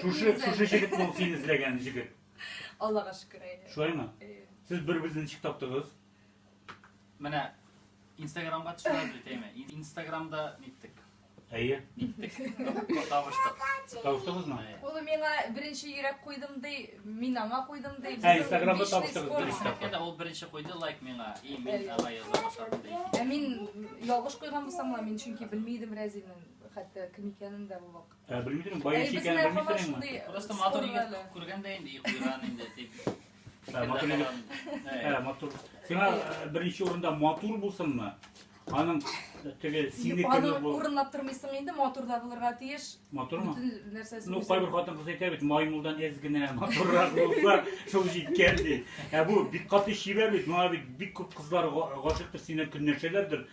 Шушы, шушы җегет бул син эзләгән җегет. Аллага шөкер әйдә. Шулаймы? Сез бер-берегезне ничек таптыгыз? Менә Инстаграмга төшерәбез бит, әйме? Инстаграмда ниттек? Әйе. Ниттек. Табыштык. Табыштыгызмы? Ул миңа беренче йөрәк куйдым ди, мин аңа куйдым ди. Ә Инстаграмда табыштыгыз беренче тапкыр. Ул беренче куйды лайк миңа, и мин аңа яза башладым ди. Ә мин ялгыш куйган булсам, мин чөнки белмидем Рәзилнең Хәтта кем икәнен дә бу вакытта. Ә белмисең, бай икәнен белмисеңме? Просто матур егет күргәндә инде йоклыйран инде дип. Ә матур егет. Ә матур. Сиңа беренче урында матур булсынмы? Аның теге сине кеме бу. Аны урынлап тормыйсың инде, матур да булырга тиеш. Матурмы? Бөтен нәрсәсе. Ну, кайбер хатын кыз әйтә бит, маймылдан әз генә матуррак булса, шул җиткән ди. Ә бу бик каты чибәр бит, моңа бит бик күп кызлар гашыктыр, синнән көнләшәләрдер.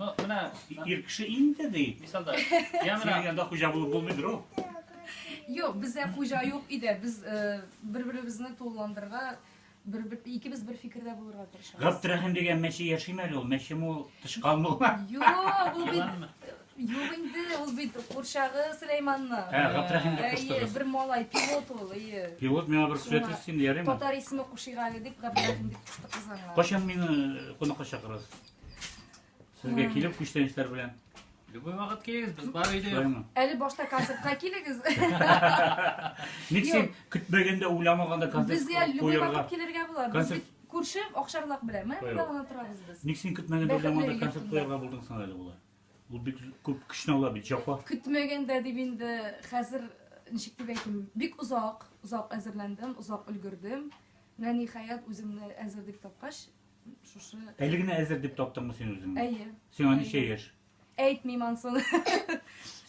Ну, менә ир кеше инде ди. Мисалда, я менә янда хуҗа булып булмыйдыр ул. Юк, бездә хуҗа юк иде. Без э, бер-беребезне тулыландырырга бер, бер, икебез бер фикердә булырга тырышабыз. Габдрахим дигән мәче яшиме әле ул? Мәчеме ул? Тычкан мул. Юк, ул бит Юк инде, ул бит курчагы Сөләйманны. Ә, Габдрахим дип куштыгыз. Бер малай пилот ул, ие. Пилот миңа бер сүрәт өстен ярыймы? Татар исеме Кушигали дип Габдрахим дип куштык кызганга. Качан мине кунакка чакырасыз? Сезгә килеп күчтәнечләр белән. Любой вакыт килегез, без бар өйдә. Шулаймы? Әле башта концертка килегез. Ник син көтмәгәндә, уйламаганда концерт Безгә любой вакыт килергә була. Без бит күрше Акшарлак белән. Менә монда гына торабыз без. Ник син көтмәгәндә, уйламаганда концерт куярга булдың соң әле була? Ул бик күп көчне ала бит, җапа. Көтмәгәндә дип инде хәзер ничек дип әйтим, бик озак, озак әзерләндем, озак өлгердем. Менә ниһаять үземне әзер дип тапкач, Шушы... Әле генә әзер дип таптыңмы син үзеңне? Әйе. Сиңа ничә яшь? Әйтмим ансын.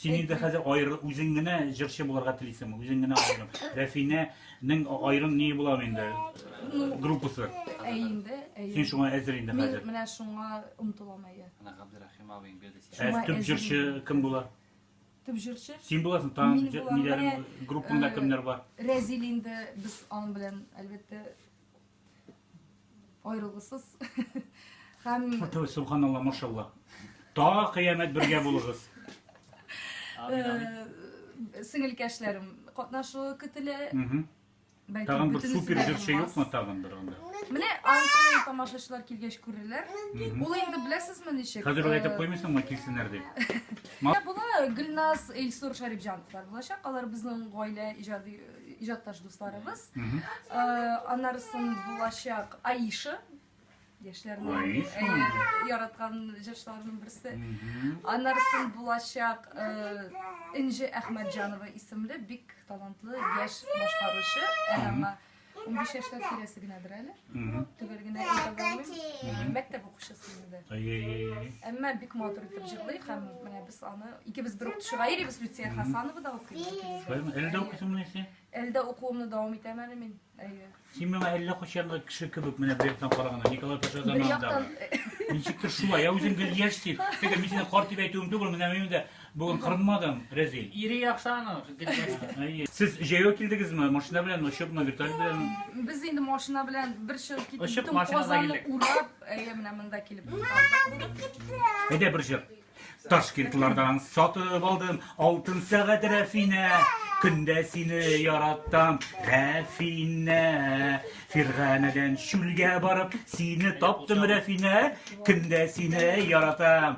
Син инде хәзер аерыл, үзең генә җырчы булырга телисең, үзең генә аерым. Рәфинәнең аерым ни була инде? Группасы. Әй инде, әй. Син шуңа әзер инде хәзер. Мин менә шуңа омтылам әйе. Ана Габдерахим абыйң бирде сиңа. Ә төп җырчы кем була? Төп җырчы? Син буласың, там ниләр группаңда э, кемнәр бар? Рәзил инде без аның белән әлбәттә Аерылгысыз. Һәм Фатыйр субханалла машалла. Та кыямәт бергә булыгыз. Э, сеңелкәшләрем катнашуы көтелә. Бәлки Тагын бер супер җырчы юкмы тагын бер анда? Менә ансын тамашачылар килгәч күрерләр. Ул инде беләсезме ничек? Хәзер әйтеп э, куймыйсыңмы килсеннәр дип? Була Гөлназ, Эльсур Шәрипҗановлар булачак. Алар безнең гаилә иҗади иҗатташ дусларыбыз. Анарысын булачак Аиша яшьләрнең э, яраткан җырчыларының берсе. Аннарысын булачак э, Инҗе Әхмәтҗанова исемле бик талантлы яшь башкаручы. Әмма 15 яшьләр тирәсе генәдер әле. Төгәл генә әйтә белмим. Мәктәп укучысы инде. Әмма бик матур итеп җырлый һәм менә без аны икебез бер укытучы Гаирибез Люция Хасанова да укый. Әлдә укытуымны исә? Әлдә укуымны дәвам итәм әле мин. Әйе. Син миңа әллә кочанлы кеше кебек менә бер яктан караганда Николай Паша заманында. Ничектер шулай, ә үзең гел яшь син. Теге мин сине карт дип әйтүем түгел, менә мин дә Бүген кырынмадың, Рәзил. Ире яхшы аның, гелгәсте. Сез җәяү килдегезме? Машина белән, очыпмы, вертолет белән? Без инде машина белән бер чыгып китеп, Очып, бөтен машинада Казанны килдек. урап, әйе, менә монда килеп калдык. Әйдә бер җыр. Ташкентлардан сатып алдым алтын сәгать Рәфинә. Көндә сине яраттым, Рәфинә. Фирганәдән чүлгә барып, сине таптым, Рәфинә. Көндә сине яратам.